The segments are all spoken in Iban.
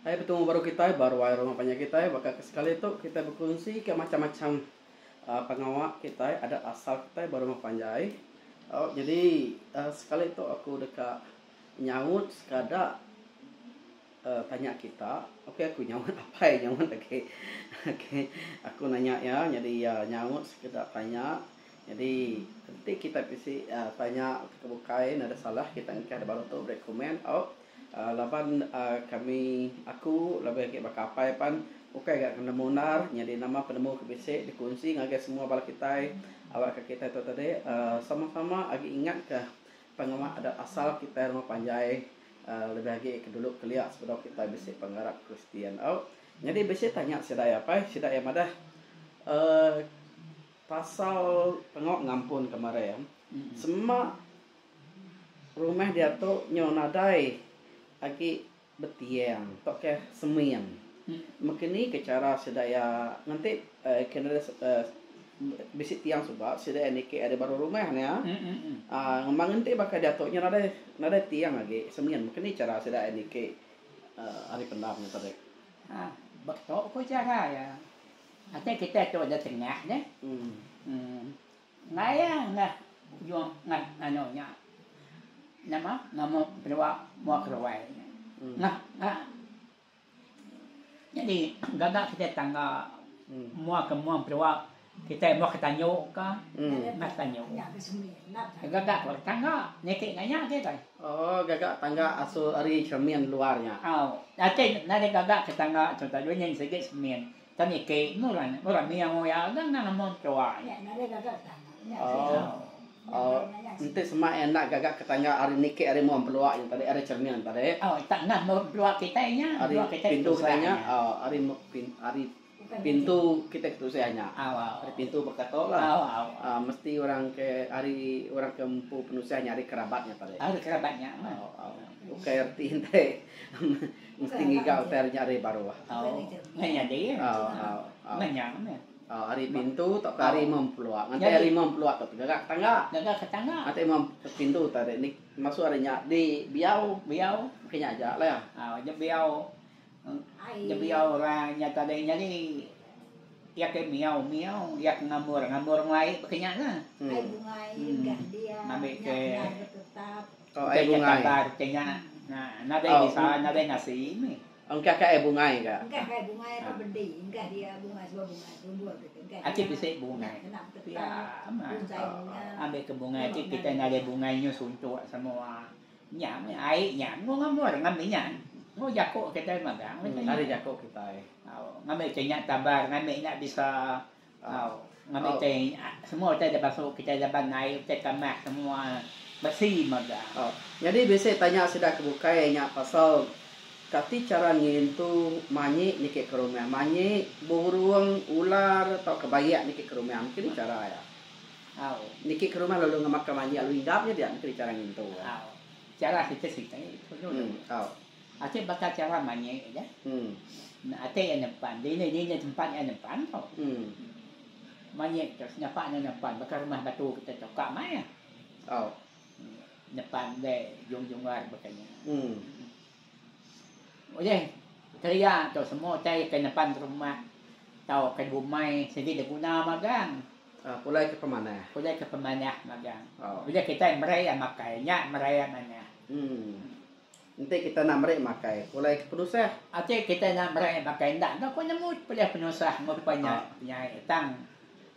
Hai petemu baru kitai baru ai rumah panjai kitai baka ke sekali tu kitai bekunsi ke macam-macam uh, pengawa kitai adat asal kitai ba rumah panjai. Oh jadi uh, sekali tu aku deka nyaut sekada uh, tanya kita. Okey aku nyaut apai nyaut okey. Okey aku nanya ya jadi uh, nyaut sekeda tanya Nyadi enti kitai bisi tanya ke bukai enda ada salah kitai engkah da baru tu beri komen au laban kami aku labih agi baka apai pan ukai ga nemu endar nyadi nama penemu ke bisi dikunsi ngagai semua bala kitai awak ka kitai tu tadi sama sama agi ingat ka pengawa adat asal kitai rumah panjai labih agi ke dulu kelia sebedau kitai bisi pengarap kristian au nyadi bisi tanya sida apai sida iya madah uhh. Pasal tengok ngampun kemarin sema rumah diatu nyu nadai agi betiang tu kah seming mekeni ke chara sida iya ngenti bisi tiang suba sida iya niki ari baru rumah nya ngumba ngenti baka diatu nyu nadai nadai tiang agi seming mekeni chara sida iya niki ari pendam nya tadi. Ba tu ku chara iya. Ati kitai tu udah tengah deh. Enggai ah ngah ujung ngah anu nya nama nama penua mua keruai nya. Ngah ngah nyadi gaga kitai tangga mua ke mua penua kitai mua ke tanyu ka ngah tanyu. Gaga ke tangga niti nya nya agi deh. Oh gaga tangga asu ari semin luar nya. Au. Ati nadai gaga ke tangga tu tadi nyin sigi semin. Ke niki murang murang miau iya dah endang amun ketua nya. Oh enti semak iya enda gaga ke tangga ari niki ari muang pelua nya tadi ari cermin tadi. Oh ita enda meh pelua kitai nya pelua kitai ari pintu kitai nya oh ari ari pintu kitai ke tusah nya ari pintu baka tu lah oh mesti orang ke ari orang ke empu penusah nya ari kerabat nya tadi. Ari kerabat nya meh. Oh ukai reti enti Mesti ngiga utai ari nya ari baruh. Au. Meh nya deh. Au au au. Meh nya meh. Au ari pintu tauka ari imam pelua. Nganti ari imam pelua tu gaga ke tangga. Gaga ke tangga. Nganti imam pintu tu ari ni masuk ari nya di biau. Biau. Ke nya aja lah. Au aja biau. Aja biau orang nya tadi nyadi iya ke miau miau iya ke ngambor ngambor ngelai ke nya lah. Ai bungai gah dia. Ngambi ke. Engka nya kabar ke nya nadai bisa nadai nasi meh. Engka ka ai bungai ga. Engka ka ai bungai ba bedi enggah dia bungai suba bungai tumbul ke engka dia. Ati bisi bungai. Pia amat. Ambi ke bungai ti kitai ngagai bungai nyu suntuk semua. Nya meh ai nya enggau ngamur ngambi nya. Enggau jako kitai magang. Ari jako kitai. Ngambi ke nya tabar ngambi nya bisa. Au. Ngambi utai semua utai da basu kitai laban naie utai kamah semua besi mega. Au. Nyadi bisi tanya sida ke bukai nya pasal kati chara ngintu manyi niki ke rumah. Manyi, burung, ular tauka bayak niki ke rumah. Mungkin nih chara iya. Au. Niki ke rumah lalu ngemaka manyi lalu inggap nya dia mungkin nih chara ngintu iya. Au. Chara siti-siti. Au. Atai baka chara mayuh aja. Enda atai iya nempan. Dini dini tempat iya nempan tu. Mayuh tu senyapa nya nempan baka rumah batu kita tu ka mai iya. Nempan deh jung jung luar baka nya. Ulih kelia tu semua utai ke nempan rumah tau ke bumai sigi diguna magang. Pulai ke pemanah. Pulai ke pemanah magang. Bila kitai meri iya makai nya meri iya manah. Enti kita enda meri makai, pulai ke penusah. Enti kita enda meri makai enda enggau ku nemu pulai penusah ngerupa nya nyai tang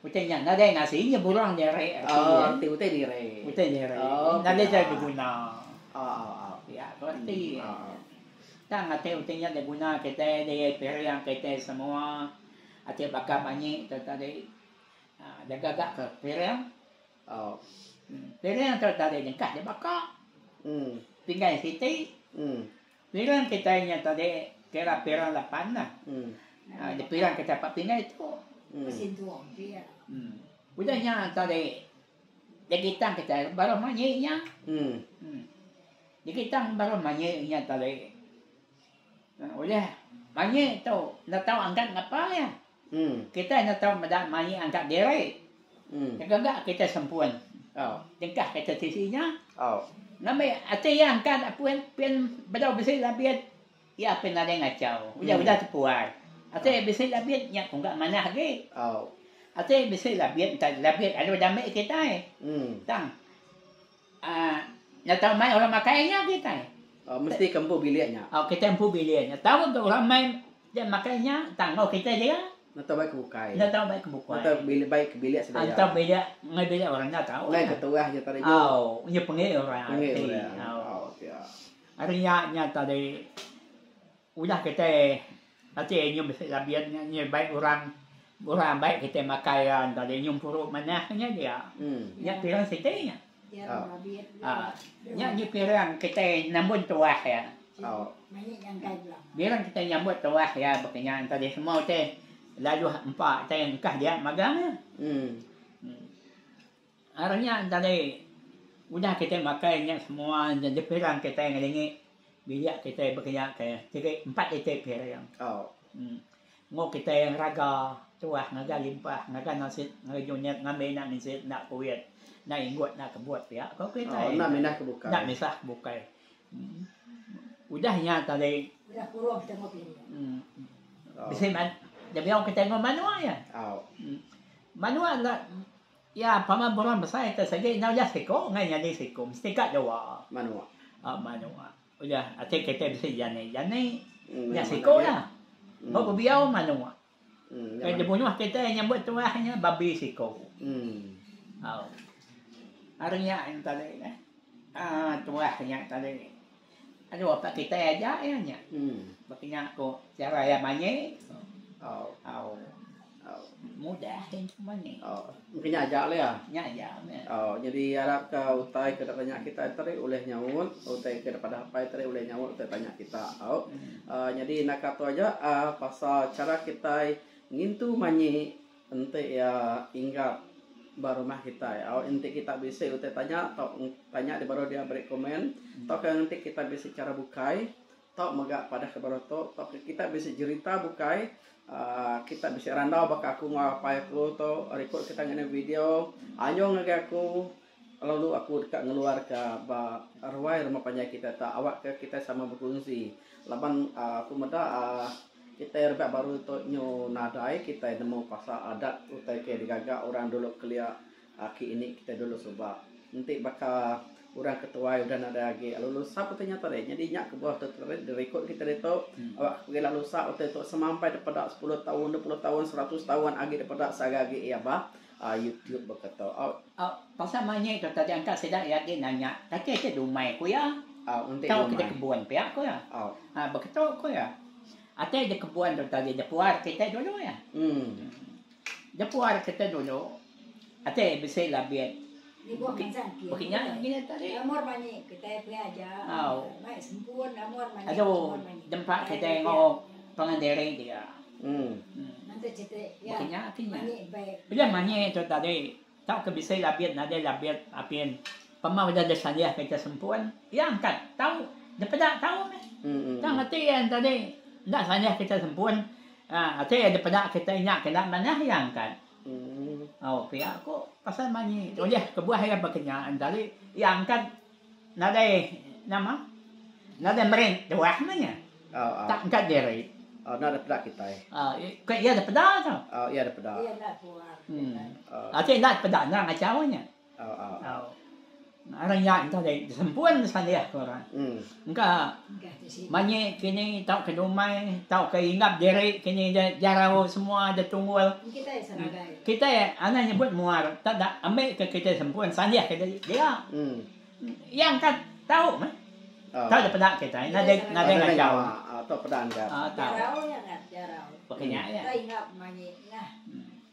utai nya nadai ngasi nya burung nyeri reti ye. Oh reti utai nyeri. Utai nyeri. Oh nadai utai beguna. Oh oh oh. Ya ko reti. Oh oh. Tang ati utai nya da guna kitai da iya piring kitai semua. Ati baka manyi tu tadi. Jaga ga ke piring. Aw. Piring enggau tali nyengkah dibaka. Pinggan siti. Piring kitai nya tadi kira piring lapan lah. Dipiring kitai empat pinggan ditu. Udah nya tadi digitang kitai baruh manyi nya. Digitang baruh manyi nya tadi. Udah manyi tu enda tau angkat ngapa iya. Kitai enda tau meda mai angkat diri. Tega ga kitai sempun jengkah kata tisi nya. Ngambi ati iya engka enda pun pin bedau bisi labit iya pin nadai ngachau. Udah-udah tepuai. Ati bisi labit nya pun ga manah agi. Ati bisi labit enta labit alu dambi kitai. Tang. Nya tau mai orang makai nya kitai. Oh mesti ke empu bilik nya. Oh kitai empu bilik nya. Tau ke orang mai dia makai nya tangguh kitai dia. Nya tau bai ke bukai. Nya tau bai ke bukai. Nya tau bilik bai ke bilik sedia. Nya tau bilik ngai bilik orang nya tau. Ngai ke terah nya tadi nya. Oh nya pengit orang. Pengit orang. Oh. Ari nya nya tadi. Udah kitai ati nyum bisi labin nya nyadi bai orang orang ambai kitai makai iya enda deh nyum puru manah nya dia. Nya pirang siti nya. Aa nya ji pirang kitai nambun tuah iya. Bila kitai nyambut tuah iya baka nya enda deh semua utai laluh empa utai engkah dia magang iya. Ari nya tadi udah kitai makai nya semua dipirang kitai ngelingi bilik kitai bekeja ke tiri empat iti piring. Enggau kitai raga tuah ngagai limpah ngagai nasit ngagai junik ngambi enda ngisit enda kuit enda inggut enda kebut pia ko kitai. Enda minah ke bukai. Udah nya tadi bisi debei kitai enggau manua nya. Manua enda. Iya pama buran besai te sigi enggau iya siko enggai nyadi siko mesti ka dua. Manua. Au manua. Udah ati kite bisi jani jani nya siko la. Ba bebiau manua. Nya dibunuh kite nyambut tuah nya babi siko. Au. Ari nya tadi neh. Aa tuah nya tadi. Anu ka kitai aja iya nya. Baka nya ko cara iya manyi au mudah iya nya manyi. Engka nya aja la iya. Nya aja meh. Au nyadi arap ka utai ke deka tanya kitai tu tadi ulih nyaut utai ke deka padah apai tadi ulih nyaut utai tanya kita au. Nyadi naka tu aja pasal cara kitai ngintu manyi. Enti iya inggap ba rumah kitai au enti kita bisi utai tanya tau tanya dia baru dia beri komen tauka enti kita bisi chara bukai tau mega padah ke baru tu tauka kita bisi jerita bukai aaa kita bisi randau baka aku enggau apai aku tu ari ku kita ngena video anyung ngagai aku. Lalu aku deka ngeluarka ba ruai rumah panjai kitai tu awakka kitai sama bekunsi laban aku meda kitai rebak baru tu nyu nadai kitai nemu pasal adat utai ke digaga orang dulu kelia aki ini kitai dulu suba. Enti baka orang ke tuai udah nadai agi lalu lusa pun tanya tadi nyadi nya kebuah tu dirikut kitai ditu awakka pegila lusa utai tu sampai dipeda sepuluh taun dua puluh taun seratus taun agi dipeda sagai agi iya bah. A YouTube baka tau aut. A pasal manyi tu taja engka sida iya agi nanya, kati enti dumai ku iya? A enti dumai. Tau ke di kebun pia ku iya. A. A baka tu ku iya. Ati di kebun tu taja di puar kite dulu iya. Di puar kite dulu. Ati bisi labit. Baka nya agi nya tadi. Au. Aduh dempa kitai enggau pangan diri dia. Em. Baka nya agi nya. Pia manyi tu tadi. Tauka bisi labit nadai labit apin. Pemau udah disalih kitai sempun, iya angkat tau dipeda tau meh. Tang ati iya tadi enda salih kitai sempun, ati iya dipeda kitai nya kena manah iya angkat. Au pia ku pasal manyi ulih kebuah iya baka nya tadi iya angkat nadai nama nadai meri tuah meh nya tak angkat diri enda dipeda kitai ku iya dipeda tu ati enda dipeda nerang aja nya. Au au au. Ngaran nya enda deh disempun disalih ke orang. Hmm. Engka manyi kini tau ke dumai, tau ke ingap diri kini de jarau semua de tunggul. Kita ya sebagai. Kita ya anak nyebut muar, tak da ambil ke kita sempun salih ke dia. Hmm. Yang kan tau mah. Oh. Tau daripada kita, ina dek ina dek ngacau. Atau pada anda. Ah, tau. Jarau yang kan, jarau. Pakai hmm. nya ya. Kita ingap manyi. Nah. Hmm.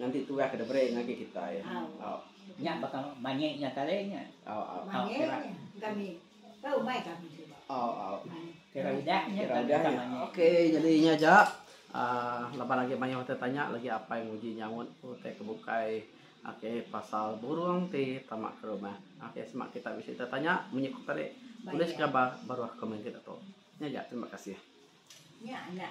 Nganti turah ke deberi ngagi kitai. Au. Nya baka manyi nya tali nya. Au au. Manyi nya kami. Ka umai kami suba. Au au. Kira udah nya kami udah manyi. Okey jadi nya aja. Aaa laban agi mayuh utai tanya lagi apai nguji nyaut utai ke bukai okey pasal burung ti tama ke rumah. Okey sema kita bisi utai tanya munyi ku tadi tulis gambar baruh komen kita tu. Nya aja terima kasih. Nya anak.